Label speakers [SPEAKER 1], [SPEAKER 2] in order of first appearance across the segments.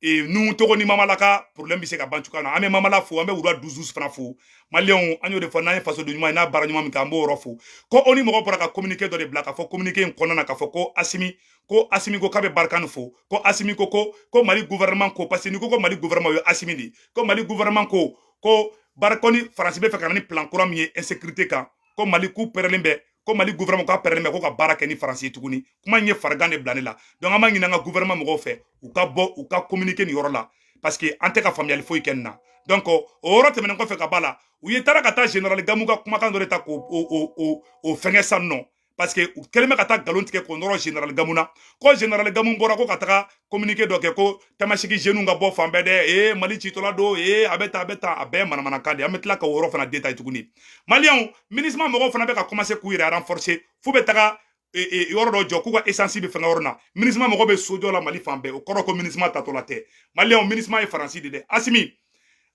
[SPEAKER 1] e, nuhun togo ni mamala ka problème bɛ se ka ban cogoya na an bɛ mamala fo an bɛ wula dusus fana fo maliyɛnw an y'o de fɔ n'an ye fasoden ɲuman ye n'a baara ɲuman min kɛ an b'o yɔrɔ fɔ ko ONU mɔgɔ bɔra ka communiqué dɔ de bila k'a fɔ communiqué in kɔnɔna na k'a fɔ ko asimi ko asimi ko k'a bɛ Barkhane fo ko asimi ko ko ko mali gouvernement ko parce que n'i ko ko mali gouvernement o ye asimi de ye ko mali gouvernement ko ko Barkhane ni faransi bɛ fɛ ka na ni plan kura min ye insécurité kan ko mali k'u pɛrɛlen bɛ ko mali gouvernement k'a pɛrɛlen bɛ ko ka baara kɛ ni faransi ye tuguni kuma in ye farigan de bila ne la donc an b'a ɲini an ka gouvernement mɔgɔw fɛ u ka bɔ u ka communiquer nin yɔrɔ la parce que an tɛ ka faamuyali foyi kɛ nin na donc o yɔrɔ tɛmɛnen kɔfɛ ka b'a la u ye taara ka taa general gamu ka kumakan dɔ de ta k'o o fɛngɛ san nɔ parce que u kɛlen bɛ ka taa nkalon tigɛ k'o nɔrɔ general gamu na ko general gamu bɔra ko ka taga kominike dɔ kɛ ko tamasiki jeniw ka bɔ fan bɛɛ dɛ ee mali citɔla don ee a bɛ ta a bɛ ta a bɛɛ manamanakan de an bɛ tila ka o yɔrɔ fana detaye tuguni maliyɛnw minisima mɔgɔw fana bɛ ka kɔmanse k'u yɛrɛ renforcer f'u bɛ taga e, e, yɔrɔ dɔ jɔ k'u ka esansi bɛ fɛngɛ yɔrɔ na minisima mɔgɔ bɛ sojɔ la mali fan bɛɛ o kɔrɔ ko minisima taatɔla tɛ maliyɛnw minisima ye faransi de dɛ asimi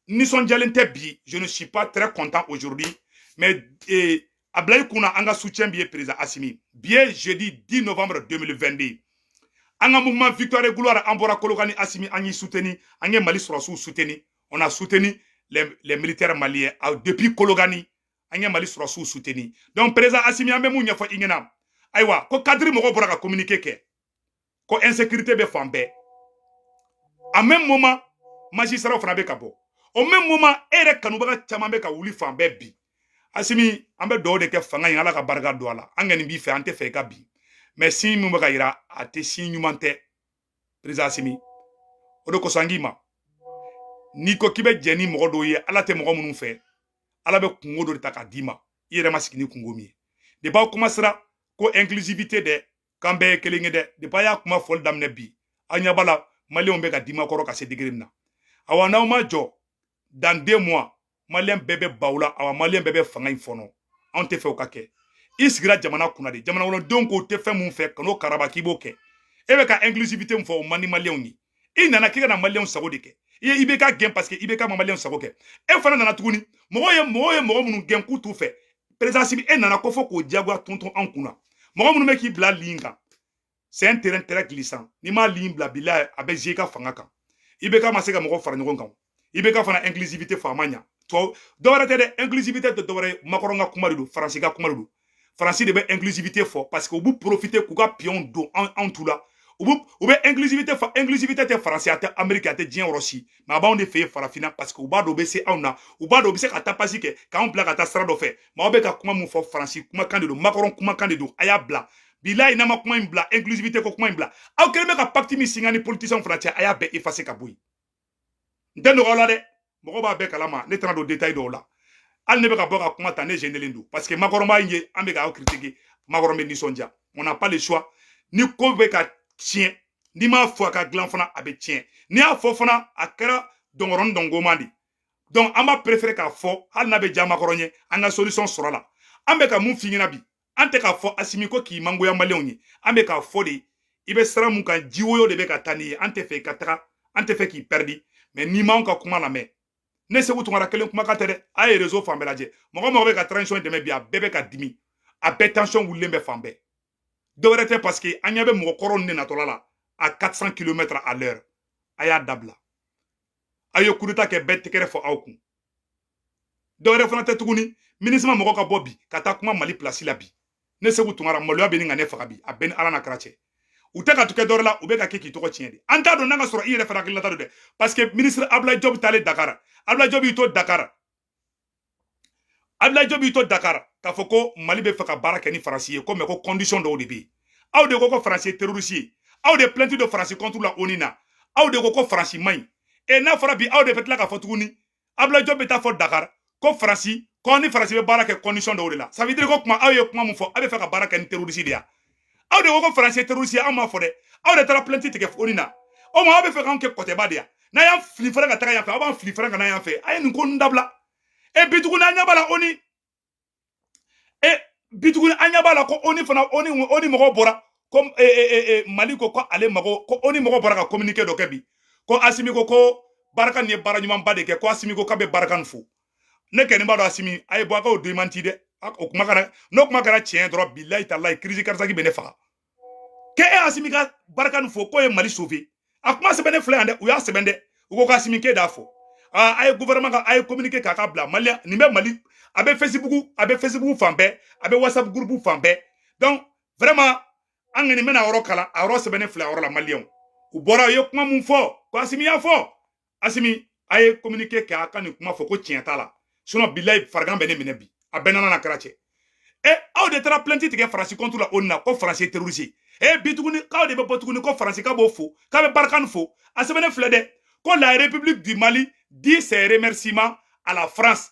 [SPEAKER 1] n nisɔndiyalen tɛ bi je ne suis pas très content aujourd'hui mais eh, a bila i kunna an ka soutien b'i ye président Assimi bi ye jeudi 10 novembre 2022 an ka mouvement victoire et gloire an bɔra Kolokani Assimi an y'i soutenu an ye Mali sɔrɔsiw soutenu on a soutenu les, les militaires maliens ah, depuis Kolokani an ye Mali sɔrɔsiw soutenu donc président Assimi an bɛ mun ɲɛfɔ i ɲɛna ayiwa ko cadre mɔgɔw bɔra ka communiqué kɛ ko insécurité bɛ fan bɛɛ en même moment magistrat fana bɛ ka bɔ au même moment e yɛrɛ kanubaga caman bɛ ka wuli fan bɛɛ bi asimi an bɛ dugawu de kɛ fanga in ala ka barika don a la an kɔni b'i fɛ an tɛ fɛ i ka bin mais signe min bɛ ka yira a tɛ signe ɲuman tɛ perezan asimi o de kosɔn an k'i ma n'i ko k'i bɛ jɛ ni mɔgɔ dɔw ye ala tɛ mɔgɔ minnu fɛ ala bɛ kunko dɔ de ta k'a d'i ma i yɛrɛ ma sigi ni kunko min ye depi a kuma sera ko inclusivité dɛ k'an bɛɛ ye kelen ye dɛ depi a y'a kuma fɔli daminɛ bi an ɲɛ b'a la maliyɛnw bɛ ka dimi aw kɔrɔ ka se degré min na awa n'aw ma jɔ dans deux mois maliyɛn bɛɛ bɛ ban aw la awa maliyɛn bɛɛ bɛ fanga in fɔɔnɔ anw tɛ fɛ o ka kɛ i sigira jamana kunna de jamana kɔnɔdenw k'u tɛ fɛn min fɛ kan'o karaba k'i b'o kɛ e bɛ ka inclusivité min fɔ o man di maliyɛnw ye i nana k'i ka na maliyɛnw sago de kɛ i ye IBK gɛn paseke IBK ma maliyɛnw sago kɛ e fana nana tuguni mɔgɔw ye mɔgɔw ye mɔgɔ minnu gɛn k'u t'u fɛ perezan si bi e nana kɔfɛ k'o diyagoya tonton anw kun na mɔgɔ minnu bɛ k'i bila ligne in kan c'est un terrain très glissant n'i m'a ligne bila bilahi a bɛ se i ka fanga kan IBK ma se ka mɔgɔ fara ɲɔgɔn kan i bɛ ka fana inclusivité fɔ a ma ɲa tɔ dɔwɛrɛ tɛ dɛ inclusivité tɛ dɔwɛrɛ ye makɔrɔn ka kuma de don faransi ka kuma de don faransi de bɛ inclusivité fɔ parce que u b'u profiter k'u ka piyɔnw don anw anw tu la u bɛ u bɛ inclusivité fɔ inclusivité tɛ faransi a tɛ ameriki a tɛ diɲɛ yɔrɔ si mɛ a b'anw de fɛ yen farafinna parce que u b'a dɔn u bɛ se anw na u b'a dɔn u bɛ se ka taa pasi kɛ k'anw bila ka taa sira dɔ fɛ mɛ aw bɛ ka kuma min fɔ faransi kumakan de don makɔrɔn kumakan de don a y'a bila bilayi n'an ma kuma in bila inclusivité ko kuma in bila aw kɛlen bɛ ka pacte min signer a ni politiciens fana cɛ a y'a bɛɛ effacer ka bɔ yen n tɛ nɔgɔya la dɛ mɔgɔ b'a bɛɛ kalama ne tɛna don detail dɔw la hali ne bɛ ka bɔ ka kuma ta ne jenelen don parce que makɔrɔn b'an ye an bɛ k'aw critiquer makɔrɔn bɛ nisɔndiya on n'a pas le choix ni ko bɛ ka tiɲɛ n'i m'a fɔ a ka dilan fana a bɛ tiɲɛ n'i y'a fɔ fana a kɛra dɔngɔrɔni dɔngoma de donc an b'a préférer k'a fɔ hali n'a bɛ diya makɔrɔn ye an ka solution sɔrɔ a la an bɛ ka mun f'i ɲɛna bi an tɛ k'a fɔ asimi ko k'i mangoya maliyɛnw ye an bɛ k'a fɔ de i bɛ sira mun kan jiwoyo de bɛ ka taa n'i ye an tɛ fɛ i ka taga an tɛ fɛ k'i pɛridi mɛ n'i m'anw ka kuma lamɛn ne seku tunkara kelen kumakan tɛ dɛ a ye rezo fan bɛɛ lajɛ mɔgɔ o mɔgɔ bɛ ka transition dɛmɛ bi a bɛɛ bɛ ka dimi a bɛɛ tension wulilen bɛ fan bɛɛ dɔwɛrɛ tɛ parce que an ɲɛ bɛ mɔgɔ kɔrɔ nin natɔla la à 400 kilomètre à l'heure a y'a dabila aw ye kudeta kɛ bɛɛ tɛgɛrɛ fɔ aw kun dɔwɛrɛ fana tɛ tuguni minisiri mɔgɔ ka bɔ bi ka taa kuma mali pilasi la bi ne seku tunkara maloya bɛ ɲini ka ne faga bi a bɛ ni ala n'a kira cɛ u tɛ ka tukɛ dɔwɛrɛ la u bɛ ka kɛ k'i tɔgɔ tiɲɛ de an t'a dɔn n'a ka sɔrɔ i yɛrɛ fana hakililata don dɛ parce que minisiri abulayi jɔbi taalen dakara abulayi jɔbi y'i to dakara abulayi jɔbi y'i to dakara k'a fɔ ko mali bɛ fɛ ka baara kɛ ni faransi ye ko mɛ ko kɔndisɔn dɔw de bɛ yen aw de ko ko faransi ye terorisi ye aw de pilɛnti don faransi contre la oni na aw de ko ko faransi man ɲi e n'a fɔra bi aw de bɛ tila k'a fɔ tuguni abulayi jɔbi bɛ taa fɔ dakari ko faransi ko a ni faransi bɛ baara kɛ kɔndisɔn dɔw de la ça veut dire ko kuma aw ye kuma min fɔ aw bɛ fɛ ka baara kɛ ni terorisi de ya aw de ko ko faransi ye terorisi ye aw m'a fɔ dɛ aw de taara pilɛnti tigɛ oni na o ma aw bɛ fɛ k'anw kɛ kɔtɛba de ya n'a y'an fili fana ka taga yan fɛ aw b'an fili fana ka na yan fɛ a ye nin ko ninnu dabila e bi tuguni an ɲɛ b'a la oni e bi tuguni an ɲɛ b'a la ko oni fana oni oni mɔgɔ bɔra ko e, e, e, mali ko ko ale mago ko oni mɔgɔ bɔra ka communiqué dɔ kɛ bi ko asimi ko ko barikani ye baara ɲumanba de kɛ ko asimi ko k'a bɛ barikani fo ne kɔni b'a dɔn asimi a ye bɔ a ka o demanti dɛ o kuma kɛra n'o kuma kɛra tiɲɛ dɔrɔn bilayi talayi crise cardiaque bɛ ne faga k'e e asimi ka barikani fo k'o ye mali sauver a kuma sɛbɛnnen filɛ yan dɛ u y'a sɛbɛn dɛ u ko k'asimi k'e d'a fɔ a ye gouvernement ka a ye communiqué k'a ka bila maliyɛnw nin bɛ mali a bɛ facebook a bɛ facebook fan bɛɛ a bɛ whatsapp groupe fan bɛɛ donc vraiment an kɔni bɛna yɔrɔ kalan a yɔrɔ sɛbɛnnen filɛ a yɔrɔ la maliyɛnw u bɔra u ye kuma mun fɔ k'asimi y'a fɔ asimi a ye kominike kɛ a ka nin kuma fɔ ko tiɲɛ t'a la sinɔn bilayi farigan bɛ ne minɛ bi a bɛ n'ala n'a kira cɛ e aw de taara plɛnti tigɛ faransi contre la ONU na ko faransi ye terorisi ye eh, bi tuguni k'aw de bɛ bɔ tuguni ko faransi ka b'o fo k'a bɛ Barkhane fo a sɛbɛnnen filɛ dɛ ko la république du mali dit ses remerciements à la france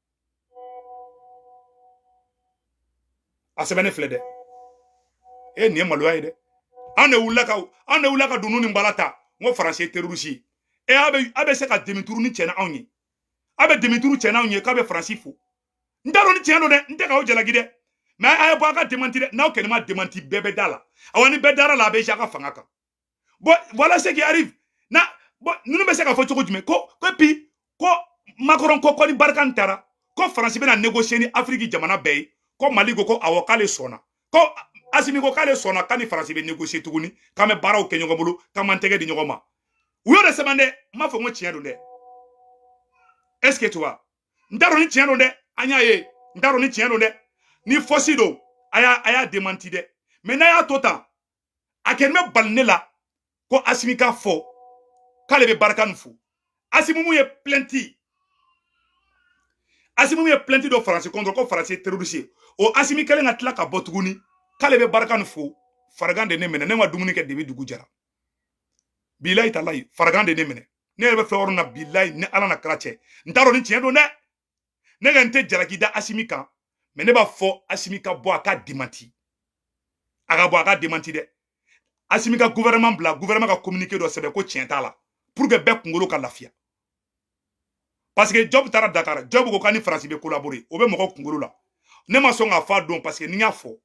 [SPEAKER 1] a sɛbɛnnen filɛ dɛ e nin ye maloya ye dɛ an de wulila ka dunun ni bala ta n ko faransi ye terorisi ye a bɛ a bɛ se ka demi-tour nin kɛ n'anw ye a bɛ demi-tour kɛ n'anw ye k'a bɛ faransi fo n t'a dɔn ni tiɲɛ don dɛ n tɛ k'aw jalaki dɛ mɛ a ye bɔ a ka demanti dɛ n'aw kɛlen ma demanti bɛɛ bɛ da a la awa ni bɛɛ dara a la a bɛ si a ka fanga kan bon voilà ce qui arrive na bon ninnu bɛ se k'a fɔ cogo jumɛn ko ko puis ko Macron ko ko ni Barkhane taara ko faransi bɛna négocier ni afiriki jamana bɛɛ ye ko mali ko ko awɔ k'ale sɔnna ko asimi ko k'ale sɔnna k'a ni faransi bɛ négocier tuguni k'an bɛ baaraw kɛ ɲɔgɔn bolo k'an b'an tɛgɛ di ɲɔgɔn ma u y'o de sɛbɛn dɛ n m'a fɔ n ko tiɲɛ don dɛ est ce que tu vois n t'a dɔn ni tiɲɛ don dɛ an y'a ye n t'a dɔn ni tiɲɛ don dɛ ni fausse don a y'a a y'a demanti dɛ mɛ n'a y'a to tan a kɛlen bɛ bali ne la ko asimi k'a fɔ k'ale bɛ Barkhane fo asimi min ye plɛnti asimi min ye plɛnti don faransi contre ko faransi ye terorisi ye o asimi kelen ka tila ka bɔ tuguni k'ale bɛ Barkhane fo farigan de ne minɛ ne ma dumuni kɛ dɛ bi dugu jɛra bilayi talayi farigan de ne minɛ ne yɛrɛ bɛ fɛn yɔrɔ min na bilayi ni ala n'a kira cɛ n t'a dɔn ni tiɲɛ don dɛ ne kɔni tɛ jalaki da asimi kan mɛ ne b'a fɔ asimi ka bɔ a ka demanti a ka bɔ a ka demanti dɛ asimi ka gouvernement bila gouvernement ka communiqué dɔ sɛbɛn ko tiɲɛ t'a la pour que bɛɛ kunkolo ka lafiya parce que diop taara dakar diop ko k'a ni faransi bɛ collaborer o bɛ mɔgɔ kunkolo la ne ma sɔn k'a fɔ a don parce que ni n y'a fɔ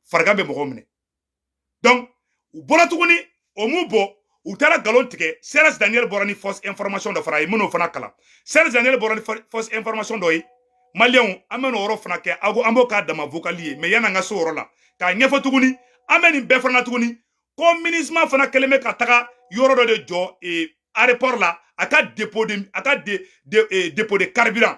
[SPEAKER 1] farigan bɛ mɔgɔ minɛ donc u bɔra tuguni o m'u bɔ u taara nkalon tigɛ serge daniel bɔra ni fausse information dɔ fana ye n bɛn'o fana kalan serge daniel bɔra ni fausse information dɔ ye maliyɛnw an bɛn'o yɔrɔ fana kɛ aw an b'o k'a dama vocal ye mais yan'an ka se o yɔrɔ la k'a ɲɛfɔ tuguni an bɛ nin bɛɛ fana na tuguni ko minusma fana kɛlen bɛ ka taga yɔrɔ dɔ de jɔ aéroport la a ka dépôt de a ka de de dépôt de carburant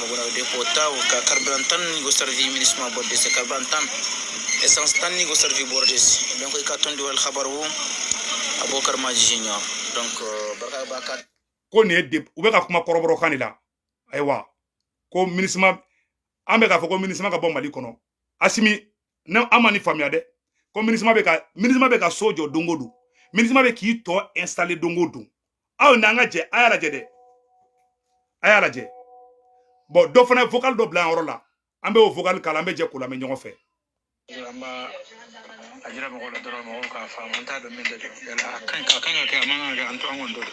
[SPEAKER 2] Mɔgɔra de ko ta ka carburant tan ni ko servi minusma bɔ dɛsɛ carburant tan essence tan ni ko servi bɔ de dɔn ko i ka tɔn dɔwɛrɛ kabaru a b'o karimaji ɲɔ barika ko nin ye dɛ
[SPEAKER 1] u bɛ ka kuma kɔrɔbɔrɔ kan de la ayiwa ko minusma an bɛ k'a fɔ ko minusma ka bɔ mali kɔnɔ asimi ne an ma nin faamuya dɛ ko minusma bɛ ka minusma bɛ ka so jɔ don o don minusma bɛ k'i to installer don o don aw n'an ka jɛ a y'a lajɛ dɛ a y'a lajɛ bɔn dɔ fana ye vocal dɔ bila yan yɔrɔ la an bɛ o vocal k'a la an bɛ jɛ k'o lamɛn ɲɔgɔn fɛ
[SPEAKER 2] an b'a a jira mɔgɔw la dɔrɔn mɔgɔw k'a faamu an t'a dɔn min de don yala a ka ɲi ka kan ka kɛ a man kan ka kɛ an to an kɔni t'o dɔn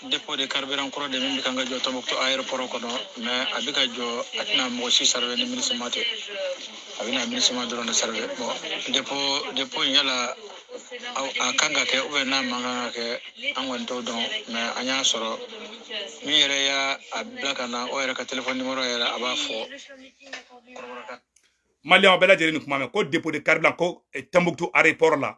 [SPEAKER 2] dépôt de carburant kura de min bɛ kan ka jɔ tɔnbɔkutu ayɛrɛpɔrɔ kɔnɔ mɛ a bɛ ka jɔ a tɛna mɔgɔ si servir ni minisima tɛ a bɛna minisima dɔrɔn de servir bɔn dépôt dépôt in yala a kan ka kɛ ou bien n'a man kan ka kɛ an kɔni t'o dɔn mɛ an y'a sɔrɔ min yɛrɛ y'a a bila ka na o yɛrɛ ka telefɔni nimoro yɛrɛ a b'a fɔ kɔrɔbɔrɔ
[SPEAKER 1] kan maliyɛnw bɛɛ lajɛlen nin kuma mɛn ko dépôt de carburant ko eh, tɔnbɔkutu ayɛrɛpɔrɔ la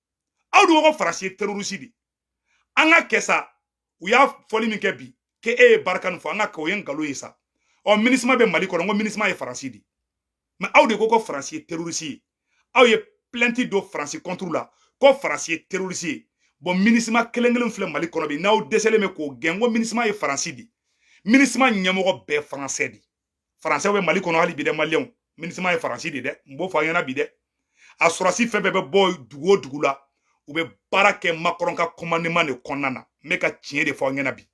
[SPEAKER 1] aw dun ko faransi ye terorisi de an ka kɛ sa u y'a foli min kɛ bi k'e ye barkhane fo an ka k'o ye nkalon ye sa ɔ minisima bɛ mali kɔnɔ n ko minisima ye faransi de mɛ aw de ko ko faransi ye terorisi ye aw ye plɛnti don faransi kɔnturu la ko faransi ye terorisi ye bɔn minisima kelen kelen filɛ mali kɔnɔ bi n'aw dɛsɛlen bɛ k'o gɛn n ko minisima ye faransi de minisima ɲɛmɔgɔ bɛɛ faransɛ de faransɛw bɛ mali kɔnɔ hali bi dɛ maliyɛnw minisima ye faransi de dɛ n b'o fɔ aw ɲɛna bi dɛ a sɔrɔdasi fɛn fɛn bɛ bɔ dugu o dugu la u bɛ baara kɛ makɔrɔn ka kɔmandeman de kɔnɔna na n bɛ ka tiɲɛ de fɔ aw ɲɛna bi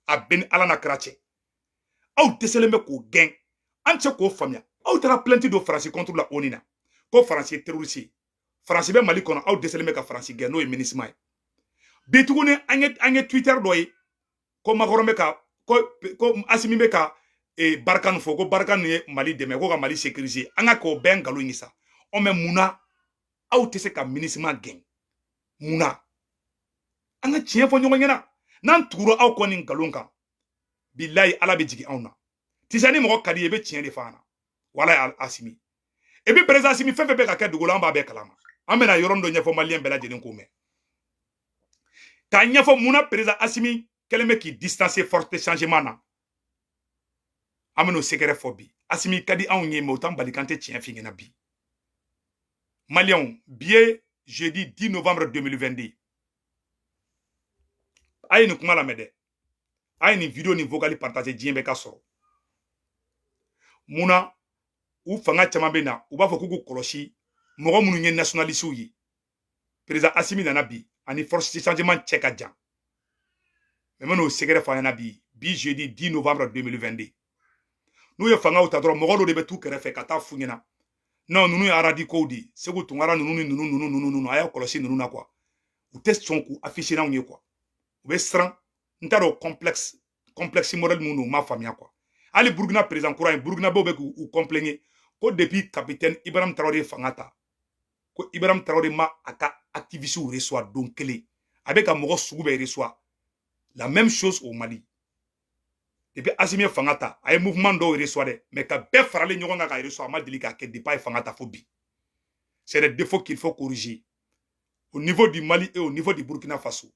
[SPEAKER 1] a bɛ n ni ala n'a kira cɛ aw dɛsɛlen bɛ k'o gɛn an tɛ se k'o faamuya aw taara plɛnti don faransi kɔnturu la oni na ko faransi ye terorisi ye faransi bɛ mali kɔnɔ aw dɛsɛlen bɛ ka faransi gɛn n'o ye minisima ye bi tuguni an ye an ye twitter dɔ ye ko makɔrɔn bɛ ka ko ko asimi bɛ ka e, barkhane fo ko barkhane ye mali dɛmɛ ko ka mali sécuriser an ka k'o bɛɛ nkalon ye sa ɔ mɛ mun na aw tɛ se ka minisima gɛn mun na an ka tiɲɛ fɔ ɲɔgɔn ɲɛna n'an tugura aw kɔ nin nkalon kan bilayi ala bɛ jigin anw na tisa ni mɔgɔ ka d'i ye i bɛ tiɲɛ de fɔ a ɲɛna wala asimi e bɛ perezan asimi fɛn fɛn bɛ ka kɛ dugu la an b'a bɛɛ kalama an bɛna yɔrɔnin dɔ ɲɛfɔ maliyɛn bɛɛ lajɛlen k'o mɛn k'a ɲɛfɔ mun na perezan asimi kɛlen bɛ k'i distancer force de changement na an bɛn'o sekɛrɛ fɔ bi asimi ka di anw ye mɛ o t'an bali k'an tɛ tiɲɛ f'i ɲɛna bi maliyɛnw bi ye jeudi 10 novembre 2022 a ye nin kuma lamɛn dɛ a ye nin video ni vocal partager diɲɛ bɛɛ k'a sɔrɔ mun na u fanga caman bɛ na u b'a fɔ k'u k'u kɔlɔsi mɔgɔ minnu ye nationalisiw ye perezan asimi nana bi ani force de changement cɛ ka jan mɛ n bɛn'o sekɛrɛ fɔ aw ɲɛna bi bi jeudi 10 novembre 2022 n'u ye fangaw ta dɔrɔn mɔgɔ dɔ de bɛ t'u kɛrɛfɛ ka taa f'u ɲɛna non ninnu ye radicaux de ye seku tunkara ninnu ni ninnu ninnu ninnu ninnu a y'a kɔlɔsi ninnu na kuwa u tɛ sɔn k'u afficher n'anw ye kuwa u bɛ siran n t'a dɔn complexe complexe modèle mun don u m'a faamuya kuwa hali burukina perezan kura ye burukinabew bɛ k'u kɔnpilɛnge ko depuis capitaine ibrahim tarawele ye fanga ta ko ibrahim tarawele ma a ka activisiw resuwa don kelen a bɛ ka mɔgɔ sugu bɛɛ resuwa la même chose au mali depuis asimi ye fanga ta a ye mouvement dɔw resuwa dɛ mais ka bɛɛ faralen ɲɔgɔn kan ka resuwa a ma deli k'a kɛ depuis a ye fanga ta fo bi c'est des défauts qu'il faut corriger au niveau du mali et au niveau du burkina faso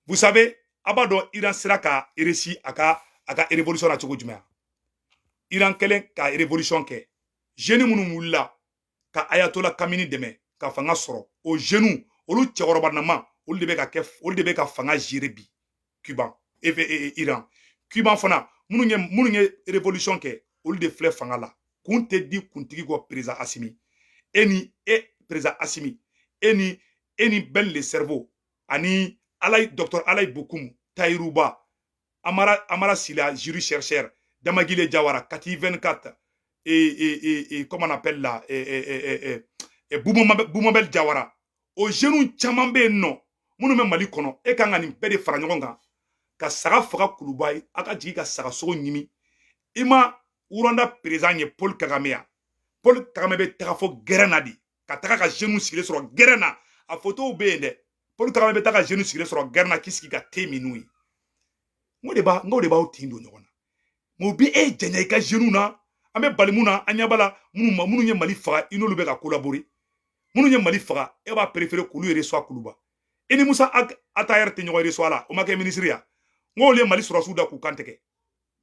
[SPEAKER 1] vous savez a b'a dɔn iran sera ka réussi a ka a ka révolution na cogo jumɛn iran kɛlen ka révolution kɛ zeni minnu wulila ka ayatola kamini dɛmɛ ka fanga sɔrɔ o zenu olu cɛkɔrɔba nama olu de bɛ ka kɛ olu de bɛ ka fanga jere bi cuba e, e, e, iran cuba fana minnu ye minnu ye revolution kɛ olu de filɛ fanga la kun tɛ di kuntigi kɔ perezan asimi e ni e perezan asimi e ni e ni bɛn le cerveau ani alayi dɔkitɔr alayi bokumu tayiru ba Amara, Amara Sila, juriste chercheur, Damagile Diawara, Kati 24, et, et, et, comment on appelle là, et, et, et, et, Boumabel Diawara. O jeune caman bɛ yen non. Minnu bɛ Mali kɔnɔ, e kan ka nin bɛɛ de fara ɲɔgɔn kan, ka saga faga kuluba yen a ka jigin ka saga sogo ɲimi i ma rwanda perezan ye paul kagame ya paul kagame bɛ taga fo gɛrɛn na de ka taga ka jeunes sigilen sɔrɔ gɛrɛn na a fotow bɛ yen dɛ paul kagame bɛ taa ka jeni sigilen sɔrɔ gɛrɛn na k'i sigi ka te min n'u ye n ko de b'a n ko de b'aw tin don ɲɔgɔn na mɛ u bɛ e janya i ka jeniw na an bɛ balimu na an ɲɛba la minnu ma minnu ye mali faga i n'olu bɛ ka kolabori minnu ye mali faga e b'a perefere k'olu resuwa kuluba i ni musa atahɛri tɛ ɲɔgɔn resuwa la o ma kɛ minisiri ya n k'olu ye mali sɔrɔsiw da k'u kan tigɛ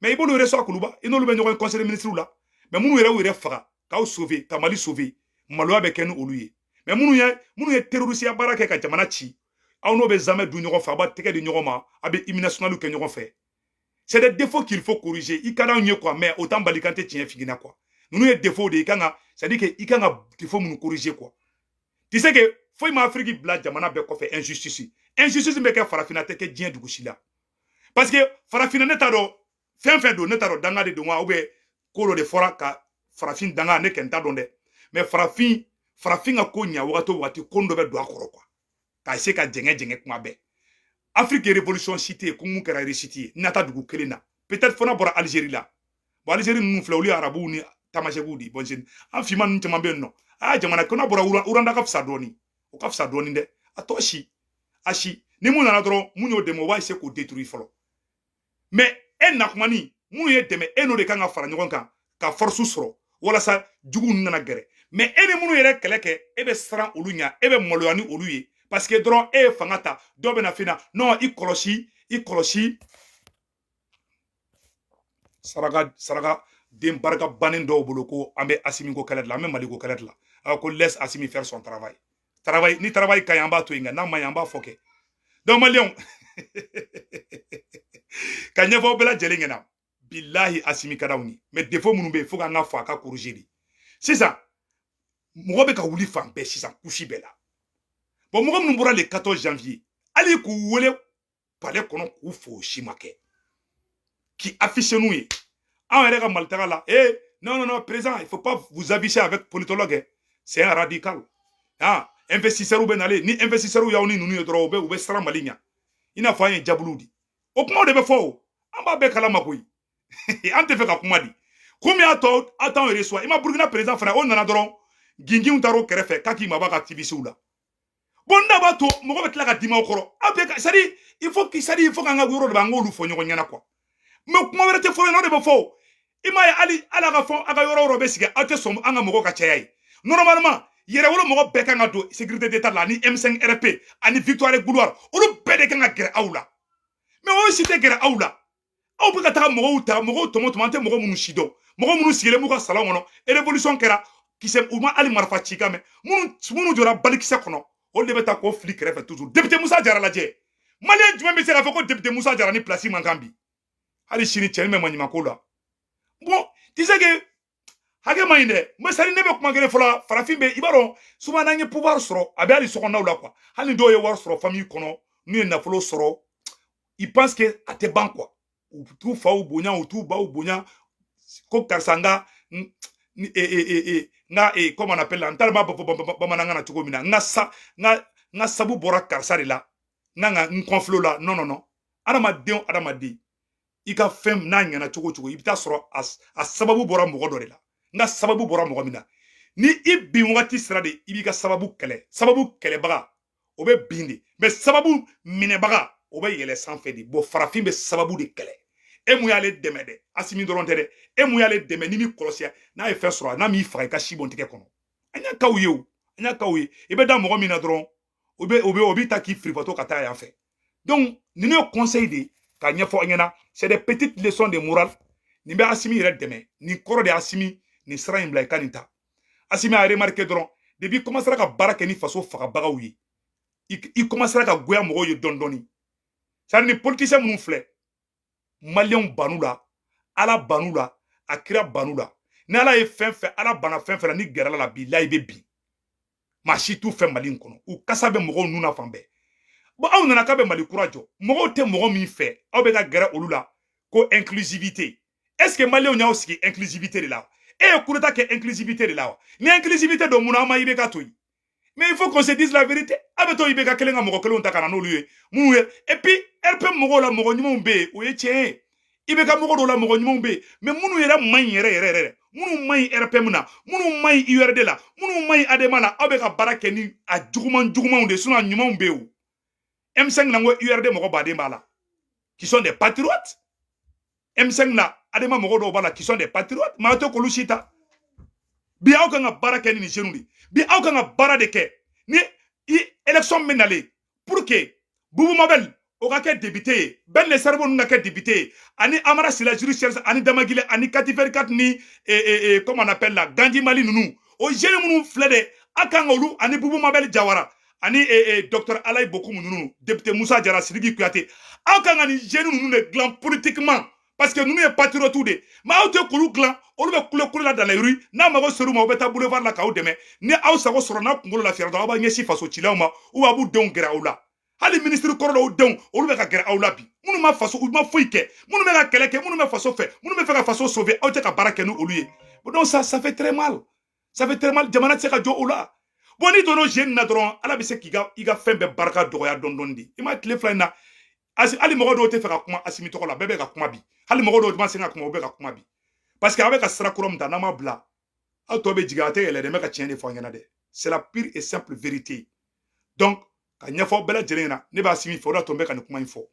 [SPEAKER 1] mɛ i b'olu resuwa kuluba i n'olu bɛ ɲɔgɔn ye kɔnsɛyi de minisiri la mɛ minnu yɛrɛ y'u yɛrɛ faga k'aw sove ka mali sove maloya bɛ kɛ ni olu ye mɛ minnu ye minnu ye terorisiya baara kɛ ka jamana ci aw n'o bɛ zamɛ dun ɲɔgɔn fɛ a b'a tɛgɛ di ɲɔgɔn ma a bɛ hymne national kɛ ɲɔgɔn fɛ c'est des défauts qu'il faut corriger i ka d'anw ye quoi mais o t'an bali k'an tɛ tiɲɛ f'i ɲɛ na quoi ninnu ye défaut de i kan ka c'est à dire que i kan ka défaut minnu corriger quoi tu sais que foyi ma afiriki bila jamana bɛɛ kɔfɛ injustice injustice bɛ kɛ farafinna tɛ kɛ diɲɛ dugu si la parce que farafina ne t'a dɔn fɛn fɛn don ne t'a dɔn danga de don wa ou bien ko dɔ de fɔra ka farafin danga ne kɔni t'a dɔn dɛ mais farafin farafin ka ko ɲa wagati o wagati ko dɔ bɛ don a kɔrɔ quoi k'a essayer ka jɛngɛ jɛngɛ kuma bɛɛ afiriki ye révolution si tɛ yen ko mun kɛra réussite ye n'a tɛ dugu kelen na peut-être fo n'a bɔra Algérie la bon Algérie ninnu filɛ olu ye arabuw ni tamasɛkiw de ye bon an finman ninnu caman bɛ yen nɔ aa jamana ko n'a bɔra rwanda ka fisa dɔɔni o ka fisa dɔɔnin dɛ a tɔ si a si ni mun nana dɔrɔn mun y'o dɛmɛ o b'a eseye k'o deturu fɔlɔ mɛ e na kuma ni mun y'e dɛmɛ e n'o de kan ka fara ɲɔgɔn kan ka fɔrisu sɔrɔ walasa jugu ninnu nana gɛrɛ mɛ e ni minnu yɛrɛ kɛlɛ kɛ e bɛ siran olu ɲa e bɛ maloya ni olu ye paseke dɔrɔn e ye fanga ta dɔ bɛ na f'i ɲɛ na nɔn i kɔlɔsi i kɔlɔsi saraka saraka den barika bannen dɔw bolo ko an bɛ asimi ko kɛlɛ de la an bɛ mali ko kɛlɛ de la a ko laisse asimi faire son travail travail ni travail ka ɲi an b'a to yen nka n'a man ɲi an b'a fɔ kɛ donc maliyɛnw ka ɲɛfɔ bɛɛ lajɛlen ɲɛna bilahi asimi ka d'anw ye mais défaut minnu bɛ yen fo k'an k'a fɔ a k'a corriger de sisan mɔgɔ bɛ ka wuli fan bɛɛ sisan couche bɛɛ la bon mɔgɔ minnu bɔra le 14 janvier hali k'u wele palais kɔnɔ k'u fo o si ma kɛ k'i afficher n'u ye anw yɛrɛ ka mali taga la e eh, non non non président il faut pas vous afficher avec politologue eh. c'est un radical ah investisseurs bɛ nalen ni investisseurs y'aw ni ninnu ye dɔrɔn u bɛ u bɛ siran mali ɲɛ i n'a fɔ an ye jabuluw di o kumaw de bɛ fɔ o an b'a bɛɛ kalama koyi an t'a fɛ ka kuma di komi a tɔ a t'anw reçoit i ma burukina président fana o nana dɔrɔn ginginw taar'o kɛrɛfɛ k'a k'i mabɔ activistew la bon n'a b'a to mɔgɔ bɛ tila ka dimi o kɔrɔ aw bɛ c'est à dire il faut que c'est à dire il faut k'an ka yɔrɔ de b'an k'olu fɔ ɲɔgɔn ɲɛna quoi mais kuma wɛrɛ tɛ fɔ yen o de bɛ fɔ o i m'a ye hali ala ka fɔ a ka yɔrɔ yɔrɔ bɛ sigi aw tɛ sɔn an ka mɔgɔ ka caya ye normalement yɛrɛwolo mɔgɔ bɛɛ kan ka don sécurité d'état la ani M5 RP ani victoire gloire olu bɛɛ de kan ka gɛrɛ aw la mais olu si tɛ gɛrɛ aw la aw bɛ ka taga mɔgɔw ta mɔgɔw tɔmɔ tɔmɔ an tɛ mɔgɔ minnu si dɔn mɔgɔ minnu sigilen b'u ka salon kɔnɔ révolution kɛra kisɛ u ma hali marifa ci kan mɛn minnu minnu jɔra balikisɛ kɔnɔ olu de bɛ taa k'o fili kɛrɛfɛ toujours député musa jara lajɛ maliyɛn jumɛn bɛ se k'a fɔ ko député musa jara ni place man kan bi hali sini cɛni bɛ maɲumanko la bon tu sais que hakɛ man ɲi dɛ mais c'est à dire ne bɛ kuma kelen fɔla farafin bɛ i b'a dɔn souvent n'an ye pouvoir sɔrɔ a bɛ hali sokɔnɔnaw la quoi hali ni dɔw ye wari sɔrɔ famille kɔnɔ n'u ye nafolo sɔrɔ ils pensent que a tɛ ban quoi u t'u faw bonya u t'u baw bonya ko karisa n ka n ka comment on appelle la n t'a dɔn n b'a fɔ bamanankan na cogo min na n ka sa n ka n ka sabu bɔra karisa de la n kan ka n kɔfilɛ o la non non non adamaden o adamaden i ka fɛn n'a ɲɛna cogo cogo i bɛ taa sɔrɔ a sababu bɔra mɔgɔ dɔ de la nka sababu bɔra mɔgɔ min na ni i bin wagati sera de i b'i ka sababu kɛlɛ sababu kɛlɛbaga o bɛ bin de mais sababu minɛbaga o bɛ yɛlɛ sanfɛ de bon farafin bɛ sababu de kɛlɛ e min y'ale dɛmɛ dɛ asimi dɔrɔn tɛ dɛ e min y'ale dɛmɛ n'i m'i kɔlɔsi a n'a ye fɛn sɔrɔ a n'a m'i faga i ka si bɔ n tɛgɛ kɔnɔ an y'a kaw ye o an y'a kaw ye i bɛ da mɔgɔ min na dɔrɔn o bɛ o bɛ o b'i ta k'i firibatɔ ka taa yan fɛ donc ninnu ye conseil de ye k'a ɲɛfɔ an ɲɛna c'est des petites leçons de morale nin bɛ asimi yɛrɛ dɛmɛ nin kɔrɔ de ye asimi nin sira in bila i ka nin ta asimi a remarquer dɔrɔn depuis i commencera ka baara kɛ ni faso fagabagaw ye i commencera ka goya mɔgɔw ye dɔɔni dɔɔni c'est à dire nin politisiyɛn minnu filɛ maliyɛnw bann'u la ala bann'u la a kira bann'u la ni ala ye fɛn fɛn ala banna fɛn fɛn la n'i gɛrɛla a la bilahi i bɛ bin maa si t'u fɛ mali in kɔnɔ u kasa bɛ mɔgɔw nun na fan bɛɛ bon aw nana k'aw bɛ mali kura jɔ mɔgɔw tɛ mɔgɔ min fɛ aw bɛ ka gɛrɛ olu la ko inclusivité est ce que maliyɛnw y'aw sigi inclusivité de la e ye coup d'état kɛ inclusivité de la wa ni inclusivité don mun na aw ma ibk to yen mais il faut qu'on se dise la vérité a bɛ to ibk kelen ka mɔgɔ kelenw ta ka na n'olu ye minnu ye et puis rpm mɔgɔw la mɔgɔ ɲumanw bɛ yen o ye tiɲɛ ye ibk mɔgɔ dɔw la mɔgɔ ɲumanw bɛ yen mais minnu yɛrɛ man ɲi yɛrɛ yɛrɛ yɛrɛ minnu man ɲi rpm na minnu man ɲi urd la minnu man ɲi adema na aw bɛ ka baara kɛ ni a juguman jugumanw de ye sinon a ɲumanw bɛ yen o M5 na n ko URD mɔgɔ baden b'a la qui sont des patriotes M5 na adema mɔgɔ dɔw b'a la qui sont des patriotes mais aw tɛ k'olu si ta bi aw kan ka baara kɛ ni nin jeunes de bi aw kan ka baara de kɛ ni élection min nalen pour que Boubou Mabel o ka kɛ député ye Ben le Cerveau ninnu ka kɛ député ye ani Amara Sila judiciaire ani Damagile ani Kati 24 ni comment on appelle la Gandhi Malien ninnu o jeunes minnu filɛ dɛ a kan ka olu ani Boubou Mabel Jawara ani e, e, docteur alayi bokumu ninnu député musa jara sidiki kuyate aw kan ka nin jeunes ninnu de dilan politiquement parce que ninnu ye patriotiw de mais aw tɛ k'olu dilan olu bɛ kule kule la dans la rue n'aw mago ser'u ma u bɛ taa boulevard la k'aw dɛmɛ ni aw sago sɔrɔ n'aw kunkolo lafiyara dɔrɔn aw b'a ɲɛsin faso cilaw ma u b'a b'u denw gɛrɛ aw la hali minisiri kɔrɔ dɔw denw olu bɛ ka gɛrɛ aw la bi minnu ma faso u ma foyi kɛ minnu bɛ ka kɛlɛ kɛ minnu bɛ faso fɛ minnu bɛ fɛ ka faso sauver aw tɛ ka baara kɛ ni olu ye donc ça ça fait très mal ça fait très mal jamana tɛ se ka jɔ o la bon n'i donna o jeu nin na dɔrɔn ala bɛ se k'i ka i ka fɛn bɛɛ barika dɔgɔya dɔɔni dɔɔni de i ma tile fila in na asi hali mɔgɔ dɔw tɛ fɛ ka kuma asimi tɔgɔ la bɛɛ bɛ ka kuma bi hali mɔgɔ dɔw ma se ka kuma u bɛ ka kuma bi parce que a bɛ ka sira kura min ta n'a m'a bila aw tɔgɔ bɛ jigin a tɛ yɛlɛ dɛ n bɛ ka tiɲɛ de fɔ an ɲɛna dɛ c'est la pure et simple vérité donc k'a ɲɛfɔ bɛɛ lajɛlen ɲɛna ne bɛ asimi fɛ o de y'a to n bɛ ka nin kuma in fɔ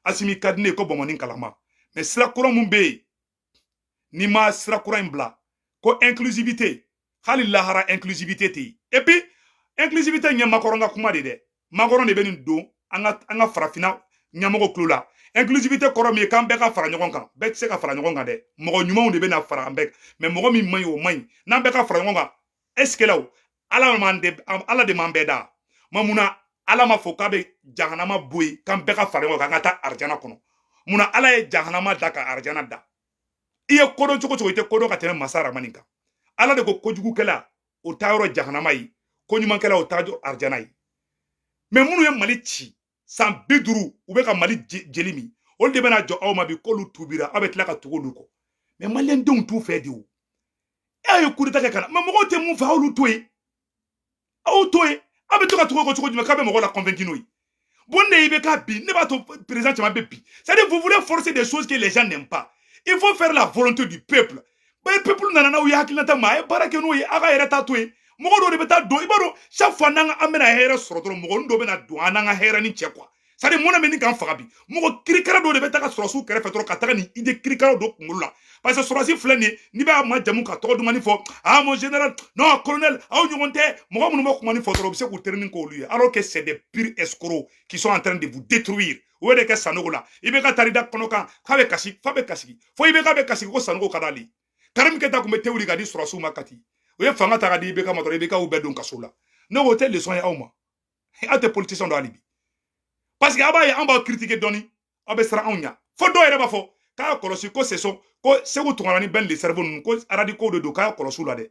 [SPEAKER 1] asimi ka di ne ye ko bɔnbɔnni kalama mais sira kura min bɛ yen n'i ma sira kura in bila ko inclusivité hali lahara inclusivité tɛ yen et puis inclusivité ye makɔrɔn ka kuma de dɛ makɔrɔn de bɛ nin don an ka an ka farafinna ɲɛmɔgɔw tulo la inclusivité kɔrɔ min ye k'an bɛɛ ka fara ɲɔgɔn kan bɛɛ tɛ se ka fara ɲɔgɔn kan dɛ mɔgɔ ɲumanw de bɛ na fara an bɛɛ kan mais mɔgɔ min man ɲi o man ɲi n'an bɛɛ ka fara ɲɔgɔn kan est ce que ala ala m'an de ala de m'an bɛɛ da mais munna ala ma fɔ k'a bɛ jahanama bɔ yen k'an bɛɛ ka fara ɲɔgɔn kan ka taa arijana kɔnɔ munna ala ye jahanama da ka arijana da i ye kodɔn cogo cogo i tɛ kodɔn ka tɛmɛ masa ramani kan ala de ko kojugukɛla o taa yɔrɔ jahanama ye ko ɲumankɛla o taa yɔrɔ arijana ye mais minnu ye mali ci san bi duuru u bɛ ka mali jeli min olu de bɛna jɔ aw ma bi k'olu tubira aw bɛ tila ka tugu olu kɔ mais maliyɛndenw t'u fɛ de o aw ye kudeta kɛ ka na mais mɔgɔw tɛ mun fɛ aw y'olu to yen aw to yen aw bɛ to ka tugu kɔ cogo jumɛn k'a bɛ mɔgɔ la convaincu n'o ye bon ne ibk bin ne b'a to perezidan caman bɛ bin c'est à dire vous voulez forcer des choses que les gens n'aiment pas il faut faire la volonté du peuple mais peuple nana n'aw ye hakilinata ma a ye baara kɛ n'o ye a ka yɛrɛ ta to yen mɔgɔ dɔ de bɛ taa don i b'a dɔn chaque fois n'an an bɛna hɛrɛ sɔrɔ dɔrɔn mɔgɔnin dɔ bɛna don an n'an ka hɛrɛ ni cɛ quoi c'est à dire mɔnɛ bɛ ɲini ka n faga bi mɔgɔ kirikara dɔ de bɛ taa ka sɔrɔdasiw kɛrɛfɛ dɔrɔn ka taga nin idée kirikara don kunkolo la parce que sɔrɔdasi filɛ nin ye n'i b'a majamu k'a tɔgɔ dumani fɔ ah mon général non colonel aw ɲɔgɔn tɛ mɔgɔ minnu bɛ kuma ni fɔ dɔrɔn u bɛ se k'u terinin k'olu ye alors que c'est des purs escrocs qui sont en train de vous détruire o de kɛ sanogo la ibk taar'i da kɔnɔ kan k'a bɛ kasi f'a bɛ kasi fo ibk bɛ kasi ko sanogo ka d'ale karimu keyita tun bɛ te wuli ka di sɔrɔdasiw ma kati o ye fanga ta ka di ibk ma dɔrɔn ibk u bɛɛ don kaso la ne o tɛ leçon ye aw ma aw tɛ politisiyɛn dɔn hali bi parce que aw b'a ye an b'aw kiritike dɔɔni aw bɛ siran anw ɲɛ fo dɔw yɛrɛ b'a fɔ k'a kɔlɔsi ko c'est ko seku tunkara ni ben le cerveau ninnu ko radicaux de don k'a kɔlɔsi u la dɛ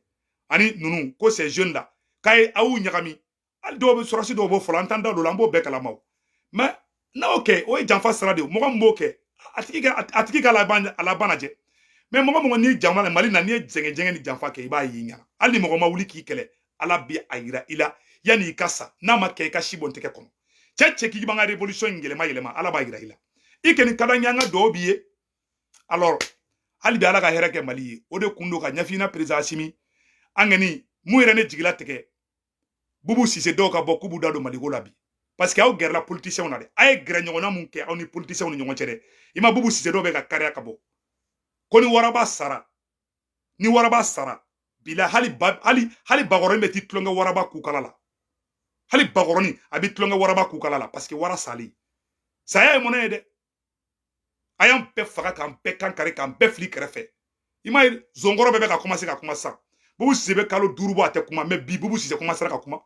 [SPEAKER 1] ani ninnu ko ces jeunes là k'a ye aw ɲagami hali dɔw bɛ sɔrɔdasi dɔw b'o fɔ la an t'an da don an b'o bɛɛ kalama mais n'aw o kɛ o ye janfa sira de ye mɔgɔ min b'o kɛ a tigi ka a tigi ka laban lajɛ mais mɔgɔ mɔgɔ n'i jama la mali na n'i ye jɛngɛjɛngɛ ni janfa kɛ i b'a y'i ɲɛ na hali ni mɔgɔ ma wuli k'i kɛlɛ ala b'a yira i la yanni i ka sa n'a ma kɛ i ka si bɔ n tɛgɛ kɔnɔ cɛ cɛ k'i b'an ka révolution in yɛlɛma yɛlɛma ala b'a yira i la i kɔni ka d'an ye an ka duwawu b'i ye alors hali bi ala ka hɛrɛ kɛ mali ye o de kun don ka ɲɛsin i ma perezidan asimi an kɔni min yɛrɛ ne jigi latigɛ bubu sise dɔw ka bɔ k'u b'u da don mali ko la bi parce que aw gɛrɛla politisiyɛnw na dɛ a ye gɛrɛ ɲɔgɔnna mun kɛ aw ni politisiyɛnw ni ɲɔgɔn cɛ dɛ i ma bubu sise dɔw bɛ ka kariya ka bɔ ko ni waraba sara ni waraba sara bila hali ba hali hali bakɔrɔnin bɛ t'i tulonkɛ waraba kukala la hali bakɔrɔnin a bɛ tulonkɛ waraba kukala la parce que wara salen saya ye mɔnɛ ye dɛ a y'an bɛɛ faga k'an bɛɛ kan kari k'an bɛɛ fili kɛrɛfɛ i m'a ye zonkɔrɔ bɛɛ bɛ ka komanse ka kuma sisan bubu sise bɛ kalo duuru bɔ a tɛ kuma mais bi bubu sise komansera ka kuma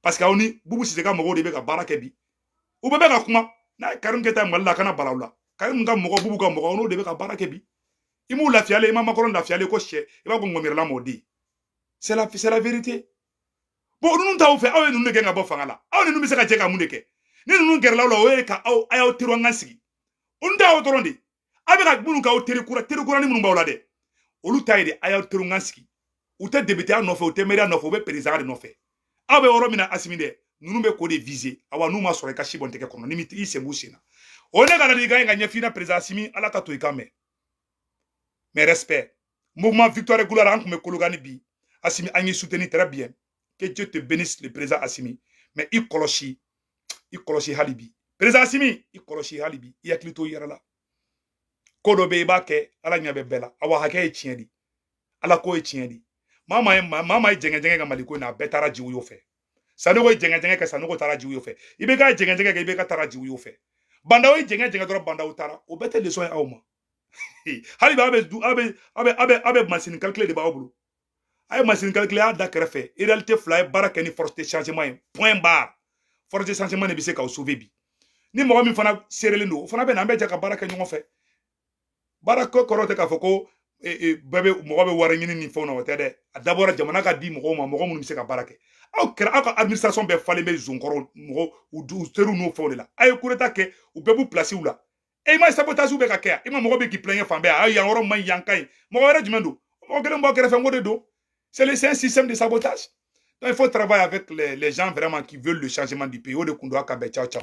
[SPEAKER 1] parce que aw ni bubu sise ka mɔgɔw de bɛ ka baara kɛ bi u bɛɛ bɛ ka kuma n'a ye karim keyita mali la a kana bala aw la karim ka mɔgɔ bubu ka mɔgɔ n'o de bɛ ka baara kɛ bi i m'u lafiyalen i ma macron lafiyalen ko sɛ i b'a ko ŋɔmijirila mɔden c'est la c'est la vérité bon ninnu t'aw fɛ aw ye ninnu de gɛn ka bɔ fanga la aw ni ninnu bɛ se ka jɛ ka mun de kɛ ni ninnu gɛrɛla aw la o ye ka aw a y'aw teri an ka sigi olu t'aw dɔrɔn de aw bɛ ka minnu k'aw teri kura teri kurani minnu b'aw la dɛ olu ta ye de a y'aw teri an ka sigi u tɛ depiteya nɔfɛ u tɛ mɛriya nɔfɛ u bɛ perezidan de nɔfɛ aw bɛ yɔrɔ min na asimi dɛ ninnu bɛ k'o de viser awa n'u ma sɔrɔ i ka si bɔ n tɛgɛ kɔnɔ ni i sen b'u sen na o ne ka ladilikan ye ka ɲɛsin i ma perezidan asimi ala k'a to i ka n mɛn mes respects mouvement victoire gloire an tun bɛ kolokani bi asimi an y'i soutenir très bien que dieu te bénisse le président asimi mais i kɔlɔsi i kɔlɔsi hali bi président asimi i kɔlɔsi hali bi i hakili to i yɛrɛ la ko dɔ bɛ i b'a kɛ ala ɲɛ bɛ bɛɛ la awa hakɛ ye tiɲɛ de ala ko ye tiɲɛ de maa maa ye maa maa ye jɛngɛjɛngɛ kɛ mali ko in na a bɛɛ taara ji woyo fɛ sanogo ye jɛngɛjɛngɛ kɛ sanogo taara ji woyo fɛ ibk jɛngɛjɛngɛ kɛ ibk taara ji woyo fɛ ba ndaw ye jɛngɛjɛngɛ dɔrɔn ba ndaw taara o bɛɛ tɛ leçon ye aw ma hali b'a bɛ a bɛ a bɛ a bɛ a bɛ masini kalikile de b'aw bolo a ye masini kalikile y'a da kɛrɛfɛ en réalité fo a ye baara kɛ ni force de changement ye point barre force de changement de bɛ se k'aw sauver bi ni mɔgɔ min fana seerelen don o fana bɛ na an bɛ jɛ ka baara kɛ ɲɔgɔn fɛ baara ko kɔrɔ tɛ k'a fɔ ko e, e, bɛɛ bɛ mɔgɔ bɛ wari ɲini ni fɛnw na o tɛ dɛ d'abord jamana ka di mɔgɔw ma mɔgɔ minnu bɛ se ka baara kɛ aw kɛra aw ka administration bɛɛ falen bɛ zonkɔrɔ mɔgɔ u teriw n'o fɛnw de la a ye courage ta k'u bɛɛ b'u pilasiw la e ma sabotage o bɛ ka kɛ yan i ma mɔgɔ bɛ k'i plaindre fan bɛɛ a yan yɔrɔ man ɲi yan ka ɲi mɔgɔ wɛrɛ jumɛn don mɔgɔ kelen bɔ kɛrɛfɛ n ko de don c'est un système de sabotage donc il faut travailler avec les, les gens vraiment qui veulent le changement du pays o de kun don a k'an bɛn ciao ciao